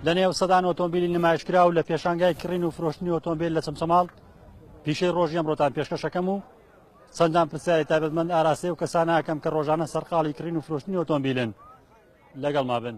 لە نێو سەدان ئۆتۆمبیلی نمایشکرا و لە پێشانگای کڕین و فرۆشتنی ئۆتۆمبیل لە چەمچەماڵ پیشەی ڕۆژی ئەمڕۆتان پێشکەشەکەم و چەندان پرسیاری تابەتمەند ئاراسی و کەسانەکەم کە ڕۆژانە سەرقاڵی کڕین و فرۆشتنی ئۆتۆمبیلن لەگەڵ ما بن.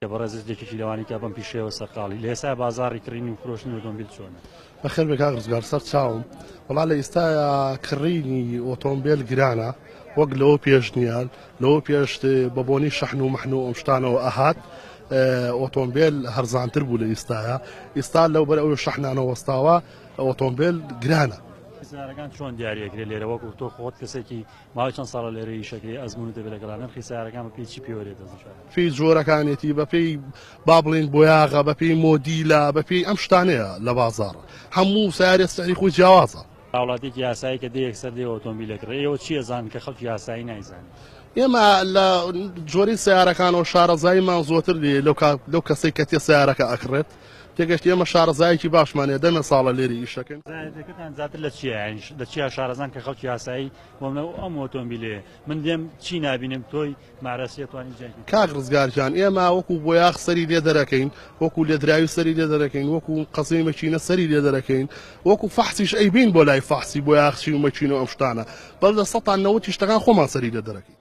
کە بەڕێزت یەکێکی لەوانی کە بەم پیشەیەوە سەرقاڵی. لە ئێستایا بازاڕی کڕین و فرۆشتنی ئۆتۆمبیل چۆنە؟ بەخێر بێی کاک ڕزگار سەر چاوم. وەڵا لە ئیستایا کڕینی ئۆتۆمبێل گرانە وەک لەوە پێش نییە. لەوە پێش بە بۆنی شەحن و مەحن و ئەم شتانەوە ئەهات ئۆتۆمبێل هەرزانتر بوو لە ئیستایا. ئیستا لەو بەر ئەو شەحنانە وەستاوە ئۆتۆمبێل گرانە. سیارەکان چۆن دیاری ئەکرێ لێرە وەکو تۆ خۆت کەسێکی ماوەی چەند ساڵە لێرە ئیش ئەکرێ ئەزمونت هەبێ لەگەڵا نرخی سەیارەکان بە پێی چی پێوەرێ دەزنرا؟ پێی جۆرەکانێتی بە پێی با بڵێین بۆیاغە بە پێی مۆدیلە بە پێی ئەم شتانەیە لە بازاڕ هەموو سارێ سەری خۆی جیاوازە هاوڵاتێکی یاسایی کە دەیەک سەر دێ ئۆتۆمبیلێک ڕێ ئێوە چیە زان کە خەڵکی یاسایی نایزانانی ئێمە لە جۆری سیارەکانەوە شارەزاییمان زۆتر لێ لەو کەسەی کە تێ سیارەکە ئەکڕێت تێگەشتی ئێمە شارەزایەکی باشمان هەیە دەمێ ساڵە لێرە ئیش دەکەین. زایەندەکەتان زیاتر لە چیە یانی لە چیا شارەزان کە خەڵکی ئاسایی بۆ منە و ئەم ئۆتۆمبیلەیە من دێم چی نابینم تۆی مارەسیە توانی جیای بکەی. کاک ڕزگار گیان ئێمە وەکو بۆیاخ سەری لێ دەرەکەین وەکو لێدراوی سەری لێ دەرەکەین وەکو قەزێی مەکینە سەری لێ دەرەکەین وەکو فەحسیش ئەیبەین بۆ لای فەحسی بۆیاخچی و مەکینە و ئەم شتانە بەس لە سەتا نەوەتی شتەکان خۆمان سەری لێ دەرەکەین.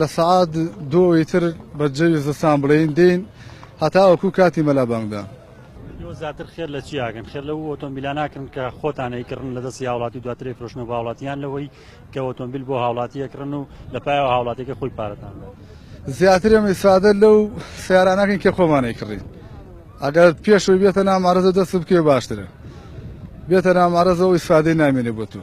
لە سەعات دوو ی تر بە جەوی زستان بڵێین دێین هەتاوەکو کاتی مەلا بانگدان. ئێوە زیاتر خێر لە چی ئاکەن خێر لەو ئۆتۆمبیلا ناکەن کە خۆتان ئەیکڕن لە دەستی هاوڵاتی و دواتر ئەیفرۆشنەوە بە هاوڵاتی یان لەوەی کە ئۆتۆمبیل بۆ هاوڵاتی ئەکڕن و لە پایەوە هاوڵاتیەکە خۆی پارەتان بدات زیاتر ئێمە ئیسفادە لەو سیارە ناکەین کە خۆمان ئەیکڕین ئەگەر پێشەوەی بێتە نامارەزە دەست بکەوێ باشترە بێتە نامارەزەوە ئیسفادەی نامێنێ بۆ تو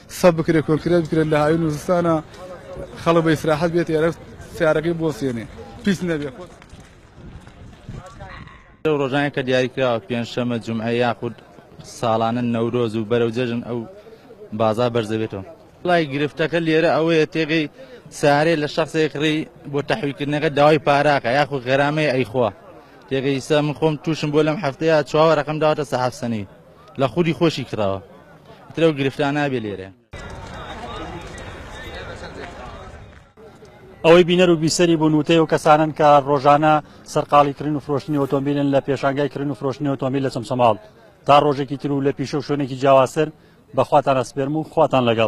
سەب بکرێت کۆنکرێت بکرێت لە هاوین و زستانە خەڵک بە ئیسراحەت بێت ئێرە سیارەکەی بۆسێنێ پیس نەبێت لەو ڕۆژانە کە دیاری کراوە پێنجشەمە جمعە یاخود ساڵانە نەورۆز و بەرەو جەژن ئەو بازا بەرزەبێتەوە لای گرفتەکە لێرە ئەوەیە تێگەی سارێ لە شخصێک ڕێ بۆ تەحویکردنەکە داوای پاراکە یاخو غەرامەی ئەیخوا تێگەیسە من خۆم تووشم بۆ لەم هەفتەیە چاوەڕەکەم داواتە سەحەفسەنی لە خودی خۆشی کڕاوە ئیتر ئەو گرفتە نابێ لێرە. ئەوەی بینەر و بیسەری بوون وتەی ئەو کەسانەن کە ڕۆژانە سەرقاڵی کڕین و فرۆشتنی ئۆتۆمبیلن لە پێشانگای کڕین و فرۆشتنی ئۆتۆمبیل لە چەمچەماڵ. تا ڕۆژێکی تر و لە پیشە و شوێنێکی جیاوازتر بە خواتان ئەسپێرم و خواتان لەگەڵ.